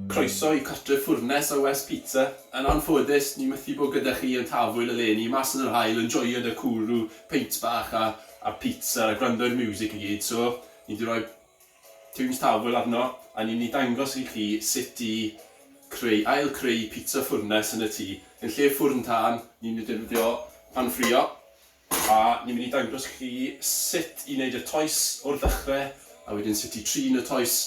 Croeso i cartref Ffwrnes a West Pizza. Yn anffodus, ni mythu bod gyda chi yn Tafwyl eleni, mas yn yr haul yn joio da cwrw, peint bach a a pizza a gwrando i'r miwsic i gyd, so ni di roi tiwns Tafwyl arno a ni myn i dangos i chi sut i creu, ail creu pizza ffwrnes yn y tŷ. Yn lle ffwrn tân, ni myn i defnyddio pan ffrio. A ni'n mynd i dangos i chi sut i wneud y toes o'r ddechrau, a wedyn sut i trin y toes,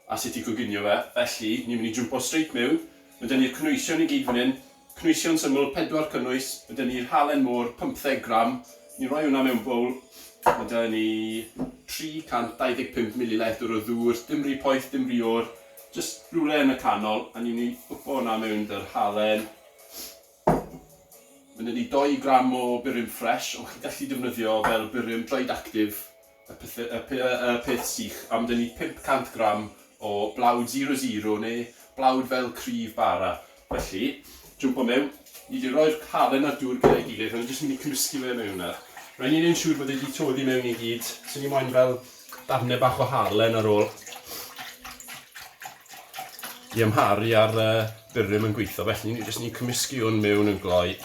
a sut i goginio fe. Felly, ni'n mynd i jwmpo straight mewn. Ma' 'da ni'r cynwysion i gyd fan hyn. Cynwysion syml, pedwar cynnwys. Ma' 'da ni'r halen môr, pymtheg gram. Ni'n rhoi hwnna mewn bowl. Ma' 'da ni 325 mililitr o ddŵr, dim rhy poeth, dim rhy oer, jyst rywle yn y canol, a ni'n mynd i gwpo hwnna mewn 'da'r halen. Mae gen i dou gram o burum ffres, ond chi'n gallu defnyddio fel burum dried actif, y pethe- y pe- y peth sych, a mae gen i 500 gram o blawd zero zero neu blawd fel cryf bara. Felly, jwmpo mewn, ni 'di roi'r halen a'r dŵr gyda'i gilydd, a ni jyst mynd i cymysgu fe mewn nawr. Rhaid ni neud yn siŵr bod e 'di toddi mewn i gyd, 'se ni moyn fel Darnau bach o halen ar ôl i amharu ar y byrym yn gweithio. Felly ni jyst ni'n cymysgu hwn mewn yn gloi.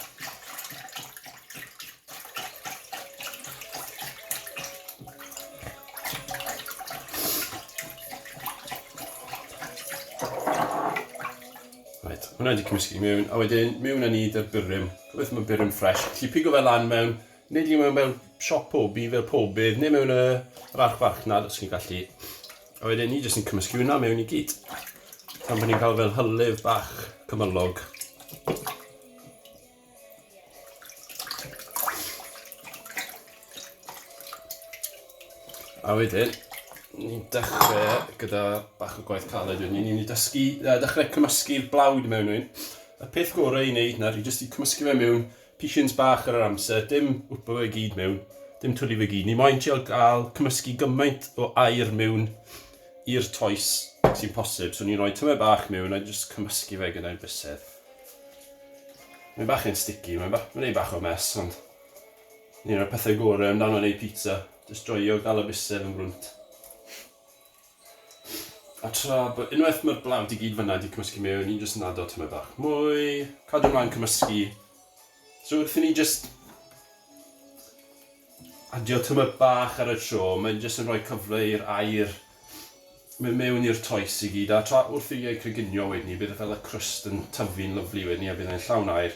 Right, hwnna wedi cymysgu mewn, a wedyn mewn â ni dy'r byrym. Gobeithio mae byrym ffres. Felly pigo fe lan mewn Nid yw e mewn siop pob dydd fel pob peth, neu mewn y yr archfarchnad os chi'n gallu. A wedyn ni jyst yn cymysgu hwnna mewn i gyd. Pan bod ni'n cael fel hylif bach cymylog. A wedyn, ni'n dechrau gyda bach o gwaith caled wedyn ni. Ni'n mynd i dysgu, uh, dechrau cymysgu'r blawd mewn un. Y peth gorau i wneud nawr i jyst i cymysgu fe mewn Pishins bach ar yr amser, dim wpa fe gyd mewn, dim twli fe gyd. Ni moyn trio gael cymysgu gymaint o air mewn i'r toes sy'n posib. So ni'n rhoi tyme bach mewn a jyst cymysgu fe gyda'r bysedd. Mae'n bach yn sticky, mae'n ba mae bach o mes, ond ni'n rhoi pethau gorau amdano ei pizza. Jyst joio gael y bysedd yn gwrwnt. A tra bod unwaith mae'r blawd i gyd fyna 'di cymysgu mewn, ni'n jyst yn ado tamaid bach mwy, cadw mlaen cymysgu. So wrth i ni jyst adio tamaid bach ar y tro, mae'n jyst yn rhoi cyfle i'r air mynd mewn i'r toes i gyd, a tra wrth i ei creginio wedyn ni, bydd e fel y crust yn tyfu'n lyflu wedyn ni, a bydd e'n llawn air,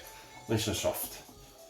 nice and soft.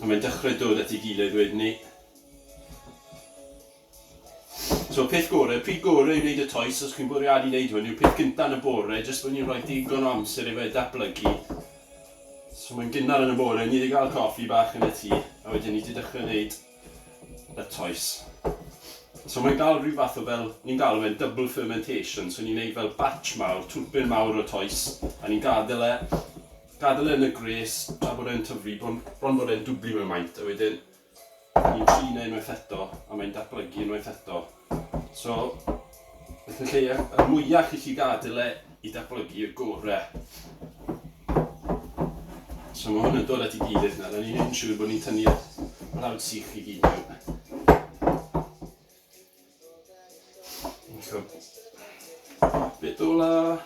A mae'n dechrau dod at ei gilydd wedyn 'ny. So peth gore, pryd gore i wneud y toes, os chi'n bwriadu wneud hwn, yw'r peth gynta yn y bore, jyst bod ni'n rhoi digon o amser i fe datblygu. So mae'n gynnar yn y bore, ni wedi cael coffi bach yn y tŷ, a wedyn ni wedi dechrau wneud y toes. So mae'n cael rhyw fath o fel, ni'n galw fe'n double fermentation, so ni'n neud fel batch mawr, twlpyn mawr o toes, a ni'n gadael e, gadael e yn y gwres tra bod e'n tyfu, bron, bron bod e'n dwbli mewn maint, a wedyn ni'n trin e unwaith eto, a mae'n datblygu unwaith eto. So, Beth y lleiaf y mwyaf chi'n lli gadael e i datblygu y gorau. So mae hwn yn dod at i gilydd nawr, a ni'n gwneud yn siŵr bod ni'n tynnu lawd sych i gyd mewn. Bit ola.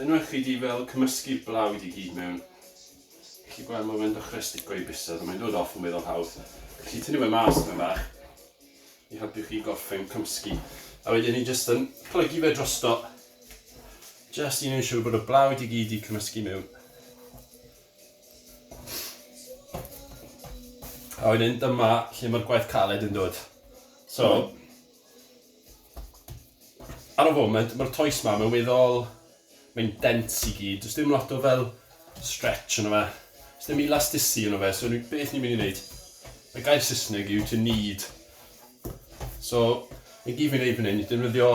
Unwaith chi di fel cymysgu'r blaw i di gyd mewn, chi gweld mae fe'n dechrau stico i bysedd, ond mae'n dod off yn weddol hawdd. Chi tynnu fe mas mewn bach i helpu chi gorffen cymsgu. A wedyn ni jyst yn plygu fe drosto, jyst i wneud siŵr bod y blaw i di gyd i cymysgu mewn. A wedyn dyma lle mae'r gwaith caled yn dod. So, ar y foment, mae'r toes ma, mae'n weddol, mae'n dens i gyd. Does dim lot o fel stretch yna fe. Does dim elasticity yna fe, so ni, beth ni'n mynd i wneud? Mae gair Saesneg yw to need. So, mae gyd fi'n neud fan hyn, defnyddio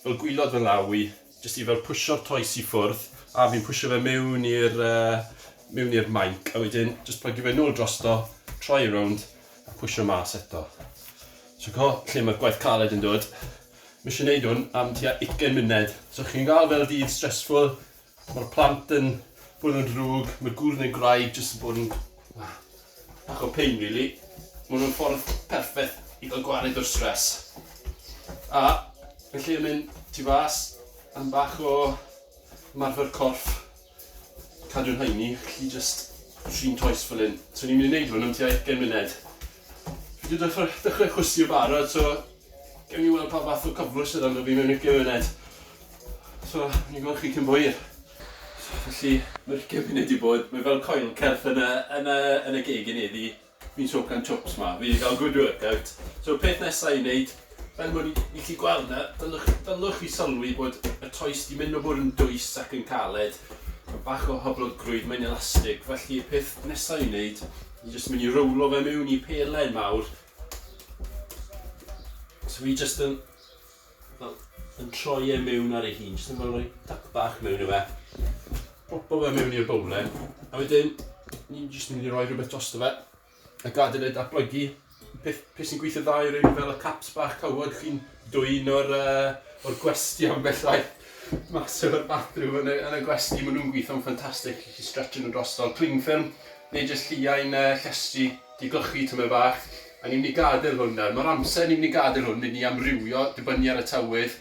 fel gwylod fy law i, Jyst i fel pwsio'r toes i ffwrdd, a fi'n pwsio fe mewn i'r uh, mewn i'r mainc, a wedyn jyst plygio fe nôl drosto, troi e rownd, a pwysio mas eto. So co, lle mae'r gwaith caled yn dod, mi eisiau gwneud hwn am tua 20 munud. So chi'n gael fel dydd stressful, mae'r plant yn bod yn drwg, mae gŵr neu graig jyst yn bod yn... Bach o pain rili. Ma' nw'n ffordd perffeth i ga'l gwared o'r stress. A felly yn mynd tu fas am bach o marfer corff. Cadw yn haeni, felly jyst trin toes fel 'yn. So o'n i'n myn' i neud hwn am tua ugen munud. Fi 'di dechre dechre chwysu yn barod so gewn ni weld pa fath o cyflwr sydd ynddo fi mewn ugen munud. So, ni'n gweld chi cyn bo hir. Felly, ma'r ugain munud 'di bod, mae fel coil certh yn y yn y yn y geg i ni, fi fi'n soak am chops 'ma, fi 'di ga'l good workout. So peth nesa i neud, fel bo' ni ni 'llu gweld nawr, dylwch dylwch chi sylwi bod y toes 'di mynd o bod yn dwys ac yn caled, ma' bach o hyblygrwydd, mae'n elastig, felly peth nesa i neud, ni jyst myn' i rowlo fe miwn i pelen mawr. So fi jyst yn Fel, yn troi e mewn ar ei hun, jyst yn fel rhoi tap bach mewn i fe. Popo fe mewn i'r bowlen. A wedyn, ni'n jyst yn mynd i roi rhywbeth drosto fe. A gadael e datblygu. Peth, peth sy'n gweithio dda yw rhywun fel y caps bach cawod, chi'n dwy'n o'r, uh, o'r gwesti am bellai mas o'r bathroom yn y, yn y gwesti. Maen nhw'n gweithio'n ffantastig, chi stretch nhw drosto. Cling film, neu jyst lliau'n uh, llestri, di glychu tymer bach. A ni'n mynd i gadael hwn nawr. Mae'r amser ni'n mynd i gadael hwn, mynd i amrywio, dibynnu ar y tywydd.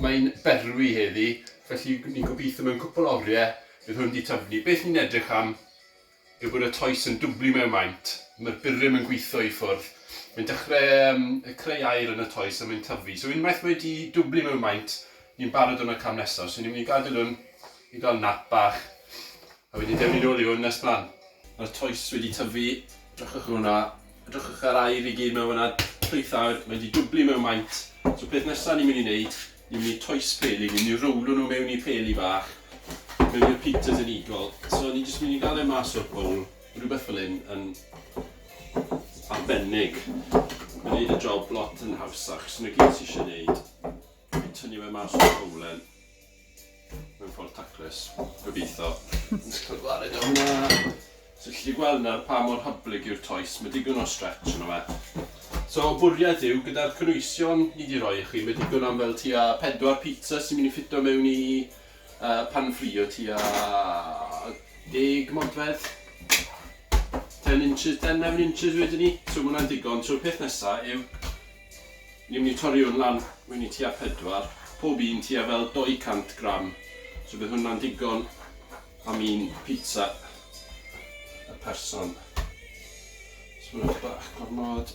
Mae'n berwi heddi, felly ni'n gobeithio mewn cwpl o oriau bydd hwn wedi tyfnu. Beth ni'n edrych am yw bod y toes yn dwblu mewn maint. Mae'r burum yn gweithio i ffwrdd. Mae'n dechrau um, creu air yn y toes a mae'n tyfu. So unwaith mae wedi dwblu mewn maint, ni'n barod o'n y cam nesaf. So ni'n mynd i gadael hwn i gael nap bach. A wedi dewni nôl i hwn nes mlan. Mae'r toes wedi tyfu, edrychwch ar hwnna, edrychwch ar air i gyd mewn fanna, llwyth air, mae 'di dwblu mewn maint, so peth nesa ni'n mynd i neud, ni'n mynd i toes peli, ni'n mynd i rowlo nhw mewn i peli bach, mewn i'r Peters and Eagle, so ni'n jyst mynd i gael e mas o'r bowl, rhywbeth fel hyn yn arbennig, mae'n neud y job lot yn hawsach, so 'na gyd ti isie neud, fi'n tynnu fe mas o'r bowlen. mewn ffordd taclus, gobeitho. Jyst cael gwared o hwnna. So chi 'llu gweld nawr pa mor hyblyg yw'r toes, ma' digon o stretch yno fe. So bwriad yw gyda'r cynwysion ni 'di roi i chi, ma' digon am fel tua pedwar pizza sy'n mynd i ffito mewn i yy pan ffrio tua deg modfedd. Ten inches, ten 'leven inches wedyn 'ny. So ma' hwnna'n digon, so'r peth nesa yw Ni'n mynd i torri hwn lan mewn i tua pedwar, pob un tua fel 200 gram, so bydd hwnna'n digon am un pizza y person. Sbwrwch bach gormod.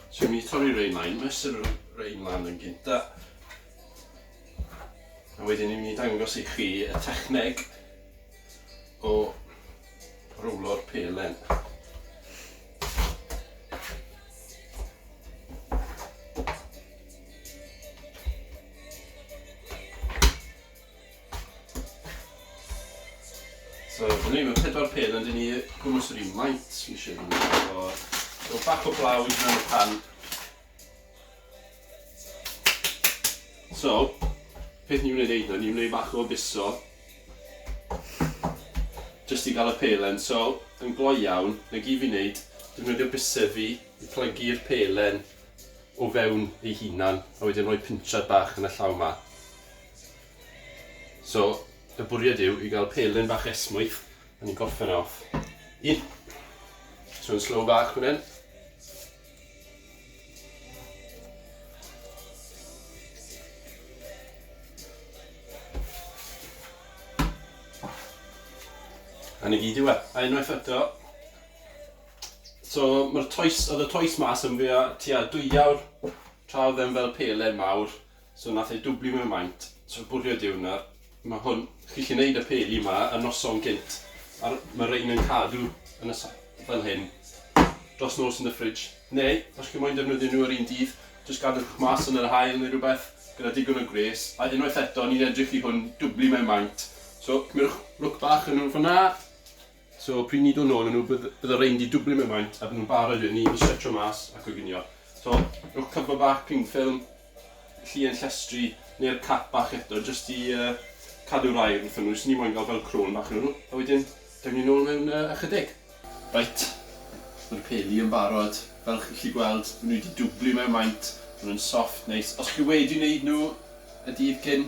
So ni'n mynd i torri rein lan, mesur y rein lan yn gynta. A wedyn ni'n mynd i dangos i chi y techneg o rowlo'r pelen. So, dyna ni, mae pedwar pen ond i ni gwmwys yr un maint, nes i ddyn. So, rhyw bach o blawd mewn y pan. So, peth ni'n mynd i wneud nawr, ni'n mynd i wneud bach o biso. Jyst i gael y pelen, so, yn gloi iawn, na gyd fi'n wneud, defnyddio bysedd fi i plygu'r pelen o fewn ei hunan, a wedyn rhoi pinchad bach yn y llaw ma. So, y bwriad yw i gael pelen bach esmwyth, a ni'n gorffen e off. Un. So, yn slow bach fan hyn. A 'na gyd yw e. A unwaith eto so ma'r toes o'dd y toes 'ma sym fi a tua dwy awr tra o'dd e'n fel pelen mawr So nath e dwbli mewn maint. So y bwriad yw nawr, ma' hwn, chi 'llu neud y peli 'ma y noson gynt a r- ma' rein yn cadw yn y sa- fel hyn dros nos yn y fridge. Neu, os chi moyn defnyddio nhw yr un dydd, jyst gadwch e mas yn yr haul neu rwbeth, gyda digon o gwres. A unwaith eto, ni'n edrych i hwn dwbli mewn maint. So cymerwch lwc bach o nhw fynna. So pryd ni'n dod nôl â nhw bydd bydd y rhein 'di dwbli mewn maint a bydden nhw'n barod wedyn i i stretsio mas a coginio. So rhowch cover bach, cling film, llien llestri neu'r cap bach eto jyst i yy cadw'r aer wrthyn nhw. Jyst ni moyn ga'l fel crôn bach arnyn nhw. A wedyn daw ni nôl mewn yy ychydig. Reit, ma'r peli yn barod. Fel chi'n gallu gweld ma' nhw 'di dwbli mewn maint, ma' nhw'n soft, neis. Os chi wedi neud nhw y dydd cyn,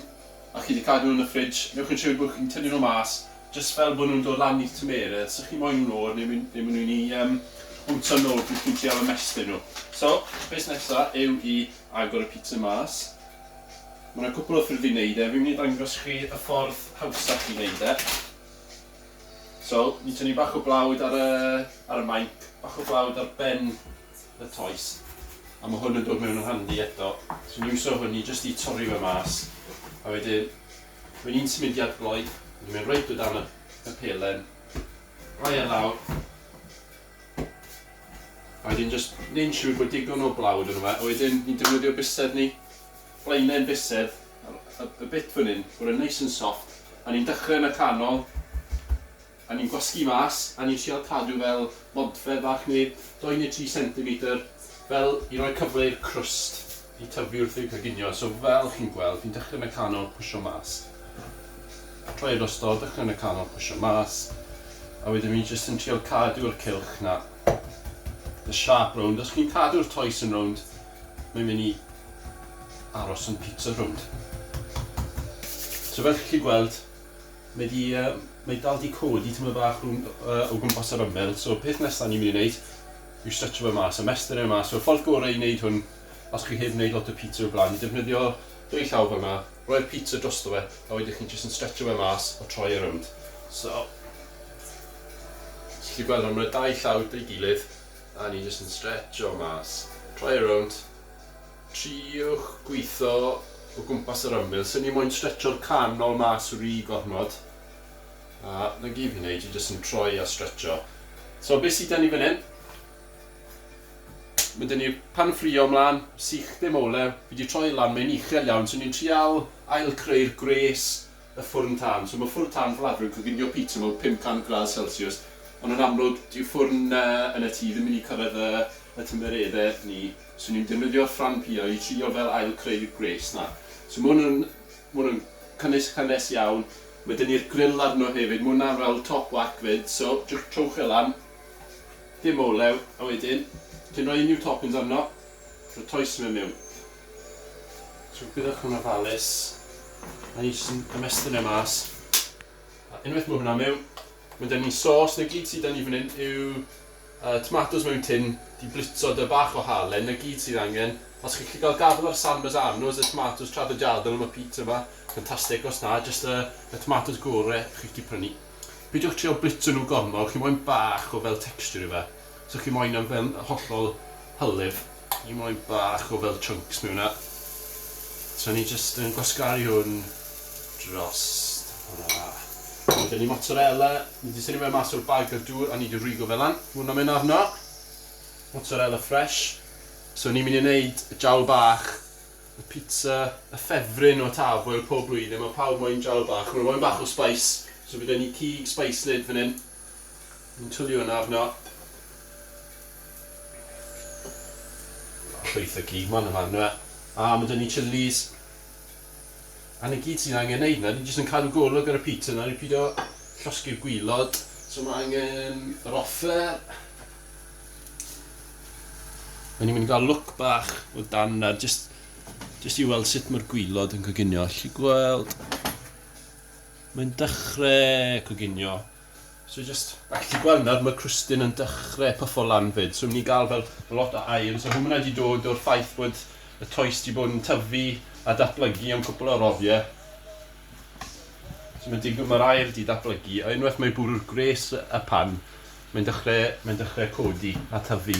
a chi 'di cadw nhw yn y fridge, newch yn siwr bod chi'n tynnu nhw mas jyst fel bod nhw'n dod lan i'ch tymeredd, 'sych chi moyn nhw'n oer neu myn- neu mwyn i yym bwtio'n nôl pryd chi'n trial ymestyn nhw. So, peth nesa yw i agor y pizza mas. Ma' 'na cwpwl o ffyrdd i neud e, fi'n mynd i dangos chi y ffordd hawsach i neud e. So, ni'n tynnu bach o blawd ar y ar y mainc, bach o blawd ar ben y toes a ma' hwn yn dod mewn yn handi eto so ni'n iwso hwn i jyst i torri fe mas a wedyn mae'n un symudiad gloi ni'n mynd reit o dan y, y pelen rhoi e lawr a wedyn jyst neu'n siŵr bod digon o blawd yno fe a wedyn ni'n defnyddio bysedd ni blaenau'n bysedd y, y, y bit fan hyn bod e'n neis yn soft a ni'n dechrau yn y canol A ni'n gwasgu mas, a ni'n trial cadw fel modfedd fach neu dou neu tri centimetr fel i roi cyfle i'r crwst i tyfu wrth ei goginio, so fel chi'n gweld fi'n dechrau mecano pwsio mas, troi e drosto, dechrau mecano pwsio mas, a wedyn fi'n jyst yn trial cadw'r cylch 'na, the sharp rownd, os chi'n cadw'r toes yn rownd, mae'n mynd i aros yn pizza rownd. So fel chi'n gallu gweld, Mae 'di yy mae 'di dal 'di codi tymed bach rhwng yy o gwmpas yr ymyl so peth nesa ni myn' i neud yw stretcho fe mas a mestyn e mas so y ffordd gore i neud hwn os chi heb neud lot o pizza o'r bla'n yw defnyddio dwy llaw fel 'na roi'r pizza drosto fe a wedyn chi'n jyst yn stretcho fe mas a troi e rownd so ti 'llu gweld hwn ma' 'na dau llaw 'da'i gilydd a ni jyst yn stretsio mas troi e rownd Triwch gwitho o gwmpas yr ymyl, swn i moyn stretcho'r canol mas ry gormod, a 'na gyd fi'n neud, fi jyst yn troi a stretcho. So be sy 'da ni fan hyn, ma' 'da ni pan ffrio mlan, sych dim olew, fi 'di troi lan, mae'n uchel iawn, so ni'n trial ail creu'r gwres y ffwrn tân, so ma' ffwrn tân Baladro yn coginio pizza mewn 500 gradd celsiws, ond yn amlwg dyw ffwrn yn y tŷ ddim yn mynd i cyrraedd y tymereddau 'ny. So ni'n defnyddio'r ffrâm piau i trio fel ail-creu'r gwres 'na. So ma' hwn yn, ma' hwn yn cynnwys cynnes iawn. Ma' 'da ni'r gril arno hefyd, ma' hwnna'n fel top whack 'fyd, so jyst trowch e lan, dim olew, a wedyn ti'n rhoi unrhyw toppings arno, rhoi toes fe mewn. So gyda'ch hwn ofalus, a ni jyst yn ymestyn e mas, a unwaith ma' hwnna mewn, wedyn ni'n sos, 'na gyd sy' 'da ni fan 'yn yw Y tomatos mewn tin, ti'n blitzo dy bach o halen, 'na gyd sydd angen. Os chi'n gallu cael gafael ar San Marzano's, y tomatos traddodiadol am y pizza 'ma, ffantastig, os na, jyst y y tomatos gore chi'n gallu prynu. Peidiwch trio blitzo nhw gormod, chi moyn bach o fel texture i fe. So chi moyn e fel hollol hylif, chi moyn bach o fel chunks mewn e. So ni jyst yn gwasgaru hwn drost hwnna. Wedyn ni mozzarella, ni 'di tynnu fe mas o'r bag a'r dŵr a ni 'di rwygo fe lan. Ma' hwnna'n mynd arno. Mozzarella fresh. So ni myn' i neud y jawl bach, y pizza, y ffefryn o Taf, wel pob blwyddyn ma' pawb moyn jawl bach, ma' n'w moyn bach o spice, so bydd 'da ni cig spice lid fan 'yn. Ni'n twli hwnna arno. Llwyth o cig man yma on'd yw e? A ma' 'da ni chilis. A 'na gyd sy'n angen neud nawr, ni jyst yn cadw golwg ar y pizza nawr i pido llosgi'r gwilod. So ma' angen yr offer. O'n ni'n mynd i ga'l look bach o dan nawr jyst jyst i weld sut ma'r gwilod yn coginio, allu gweld. Mae'n dechre coginio. So jyst, a chi gweld nawr mae crwstyn yn dechrau puffo lan 'fyd, so ni'n cael fel lot o aer, so hwnna 'di dod o'r ffaith bod y toes 'di bod yn tyfu a datblygu am cwpl o roddiau. So mae'n digwydd mae'r aer 'di datblygu, a unwaith mae bwrw'r gwres y pan, mae'n dechrau, mae'n dechrau codi a tyfu.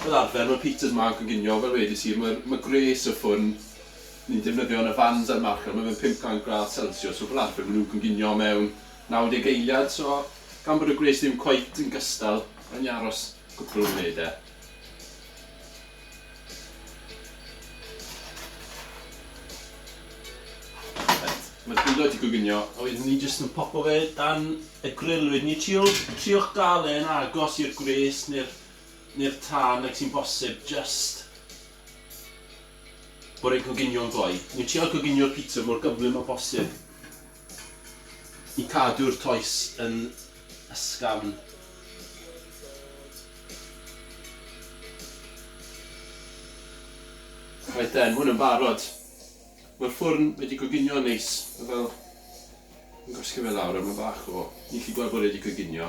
Fel arfer mae Peters ma'n coginio fel wedis i mae'r mae gwres y ffwn ni'n defnyddio yn y fans a'r marchnad mae fe'n 500 gradd celsiws so fel arfer mae nhw'n coginio mewn 90 eiliad so gan bod y gwres ddim cweit yn gystal mae'n aros cwpl o funudau. Reit, ma'r gwydr wedi coginio a wedyn ni jyst yn popo fe dan y gril wedyn ni trio triwch dal e yn agos i'r gwres ne'r ne'r tân ag sy'n bosib jyst bod e'n coginio'n gloi. Ni'n trial coginio'r pizza mor gyflym â bosib. I cadw'r toes yn ysgafn. Reit then, hwn yn barod. Mae'r ffwrn wedi coginio'n neis, mae fel yn gwasgu fe lawr a mae bach o... Ni'n gallu gweld bod e wedi coginio.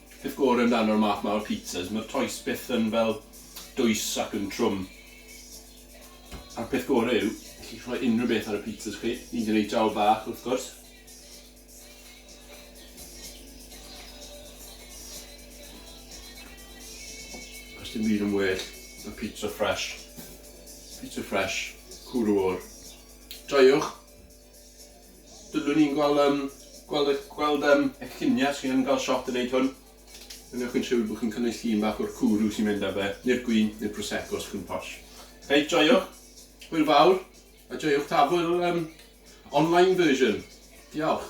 Peth gore amdano'r math 'ma o pizzas, ma'r toes byth yn fel dwys ac yn trwm. A'r peth gore yw, allwch rhoi unrhyw beth ar y pizzas chi, hyd yn oed jawr bach wrth gwrs. Does dim byd yn well na pizza fresh. Pizza fresh, cŵl y wâr. Joiwch! Dylwn i'n gweld yym gweld eich gweld yym eich lluniau chi yn cael shot yn wneud hwn. Wnewch chi'n siŵr bod chi'n cynnig llun bach o'r cwrw sy'n mynd â fe, neu'r gwin, neu'r prosecco os chi'n posh. Reit, joiwch. Hwyl fawr. A joiwch tafwyl um, online version. Diolch.